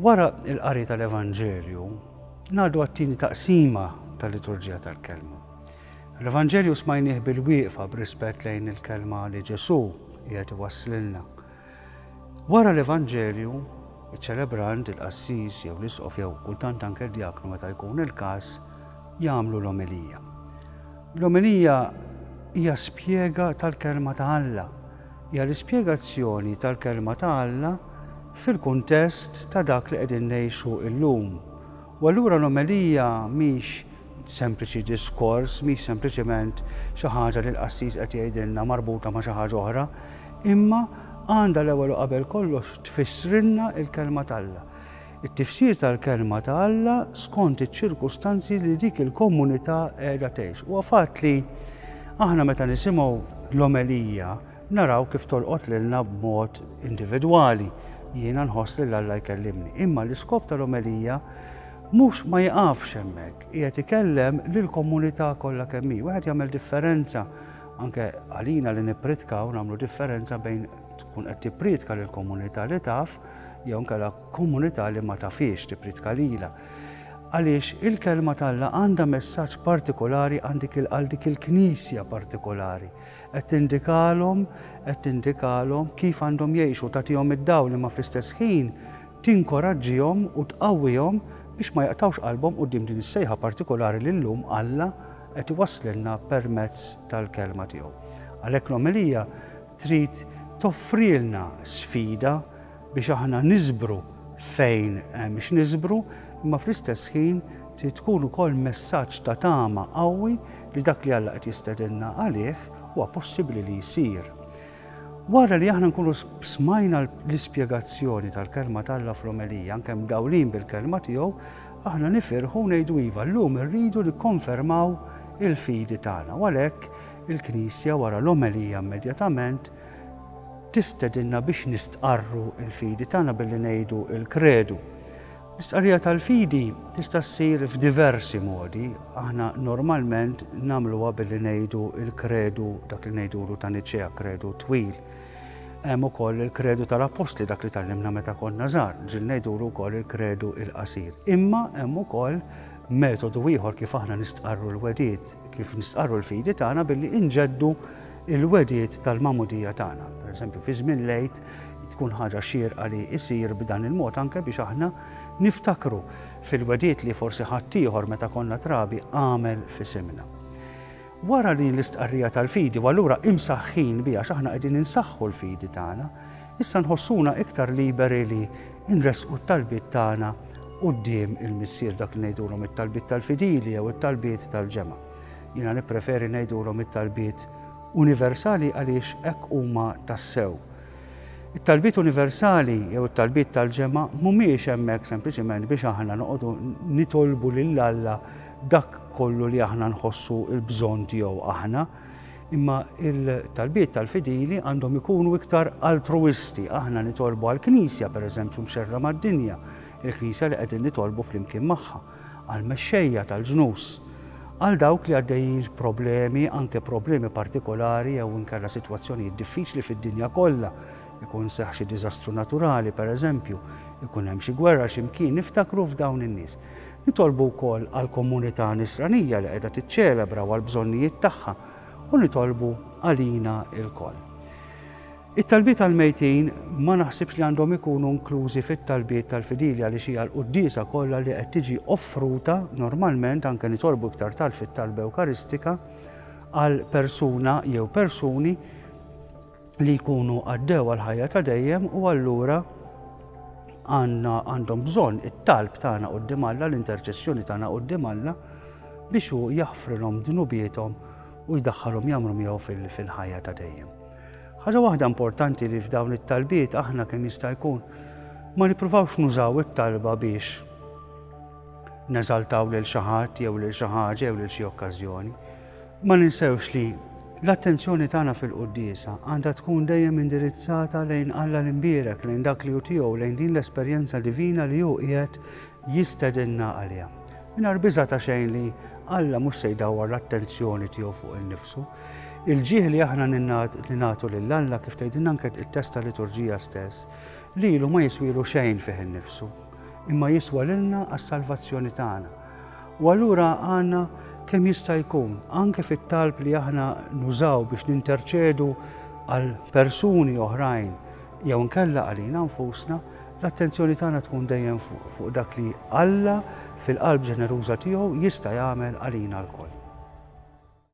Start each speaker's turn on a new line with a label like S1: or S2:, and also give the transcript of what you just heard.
S1: Wara il-qari tal-Evanġelju, ngħaddu għat-tieni taqsima tal-liturġija tal-kelma. L-Evanġelju smajnieh bil-wieqfa b'rispett lejn il-kelma li Ġesu qiegħed iwasslilna. Wara l-Evanġelju, iċ-ċelebrant, il-qassis jew l-isqof jew kultant anke d-djaknu meta jkun il-każ, jagħmlu l-omelija. L-omelija hija spjega tal-Kelma ta' Alla. Hija l-ispjegazzjoni tal-Kelma ta' Alla fil-kuntest ta' dak li qegħdin ngħixu llum U allura l-omelija mhix sempliċi diskors, mhix sempliċement xi ħaġa li l-qassis qed jgħidilna marbuta ma' xi ħaġa oħra, imma għandha l-ewwel u qabel kollox tfissrilna l-Kelma t'Alla. It-tifsir tal-Kelma ta' Alla skont iċ-ċirkustanzi li dik il-komunità qiegħda tgħix. Huwa fatt li aħna meta nisimgħu l-omelija, Naraw kif tolqot lilna b'mod individwali, jiena nħoss lil Alla jkellimni. Imma l-iskop tal-omelija mhux ma jiqafx hemmhekk, qiegħed ikellem lill-komunità kollha kemm hi. Wieħed jagħmel differenza anke għalina li nippritkaw nagħmlu differenza bejn tkun qed tippritka lill-komunità li taf jew inkella komunità li ma tafhiex tippritka lilha. Għaliex il-kelma t'Alla għandha messaġġ partikolari għal dik il-knisja partikolari. Qed tindikalhom, qed tindikalhom kif għandhom jgħixu, tagħtihom id-dawl imma fl-istess ħin tinkoraġġihom u tqawwihom biex ma jaqtgħux qalbhom quddiem din is-sejħa partikulari li llum Alla qed iwasslilna permezz tal-Kelma tiegħu. Għalhekk l-omelija trid toffrilna sfida biex aħna niżbru fejn hemm x'niżbru, imma fl-istess ħin trid tkun ukoll messaġġ ta' tama qawwi li dak li Alla qed jistedinna għalih huwa possibbli li jsir. Wara li aħna nkunu smajna l-ispjegazzjoni tal-kelma t'Alla fl-omelija, anke mdawlin bil-kelma tiegħu, aħna nifirħu ngħidu iva llum irridu nikkonfermaw il-fidi tagħna. U għalhekk il-Knisja wara l-omelija immedjatament tistedinna biex nistqarru l-fidi tagħna billi ngħidu l-kredu. L-istqarrija tal-fidi tista' ssir f'diversi modi. Aħna normalment nagħmluha billi ngħidu l-kredu dak li ngħidulu ta' Niċea kredu twil. Hemm ukoll il-kredu tal-Appostli dak li tallimna meta konna żgħar, ġil ngħidulu wkoll il-kredu il-qasir. Imma hemm ukoll metodu ieħor kif aħna nistqarru l-wedid, kif nistqarru l-fidi tagħna billi inġeddu Il-wegħdiet tal-magħmudija tagħna, pereżempju fi żmien l-Għid, tkun ħaġa xierqa li jsir b'dan il-mod anke biex aħna niftakru fil-wegħdiet li forsi ħaddieħor meta konna trabi għamel f'isimna. Wara din l-istqarrija tal-fidi, u allura imsaħħin biha x'aħna qegħdin insaħħu l-fidi tagħna, issa nħossuna iktar liberi li nresqu t-talbiet tagħna quddiem il-Missier dak li ngħidulhom it-talbiet tal-fidili jew it-talbiet tal-ġemgħa. Jiena nippreferi ngħidulhom it-talbiet universali għaliex hekk huma tassew. It-talbiet universali jew it-talbiet tal-ġemgħa mhumiex hemmhekk sempliċiment biex aħna noqogħdu nitolbu lil Alla dak kollu li aħna nħossu l-bżonn tiegħu aħna, imma il-talbiet tal-fidili għandhom ikunu iktar altruisti. Aħna nitolbu għall-Knisja, pereżempju, mxerra mad-dinja, il-Knisja li qegħdin nitolbu flimkien magħha. għall-mexxejja tal-ġnus, għal dawk li għaddejjin b'problemi, anke problemi partikolari jew inkella sitwazzjonijiet diffiċli fid-dinja kollha, ikun seħħ xi diżastru naturali, pereżempju, ikun hemm xi gwerra xi mkien, niftakru f'dawn in-nies. Nitolbu wkoll għall-komunità Nisranija li qiegħda tiċċelebra u għall-bżonnijiet tagħha, u nitolbu għalina lkoll. It-talbiet għall-mejtin ma naħsibx li għandhom ikunu inklużi fit-talbiet tal-fidili għaliex hija l-quddiesa kollha li qed tiġi offruta normalment, anke nitolbu iktar tard fit-talba ewkaristika, għal persuna jew persuni li jkunu għaddew għall-ħajja ta' dejjem u allura għandna għandhom bżonn it-talb tagħna quddiem Alla, l-interċessjoni tagħna quddiem Alla biex hu jaħfrilhom dnubiethom u jdaħħalhom jagħmlu miegħu fil-ħajja ta' dejjem. Ħaġa waħda importanti li f'dawn it-talbiet aħna kemm jista' jkun ma nippruvawx nużaw it-talba biex neżaltaw lil xi ħadd jew lil xi ħaġa jew lil xi okkażjoni. Ma ninsewx li l-attenzjoni tagħna fil-quddiesa għandha tkun dejjem indirizzata lejn Alla l-imbierek, lejn dak li hu tiegħu, lejn din l-esperjenza divina li hu qiegħed jistedinna għaliha. Mingħajr biża' ta' xejn li Alla mhux se jdawwar l-attenzjoni tiegħu fuq innifsu, Il-ġieħ li aħna ningħatu lil Alla kif tgħidilna anke it-test ta' liturġija stess, lilu ma jiswielu xejn fih innifsu, imma jiswa lilna għas-salvazzjoni tagħna. U allura għandna kemm jista' jkun, anke fit-talb li aħna nużaw biex ninterċedu għal persuni oħrajn jew nkella għalina nfusna, l-attenzjoni tagħna tkun dejjem fuq dak li Alla fil-qalb ġeneruża tiegħu jista' jagħmel għalina lkoll.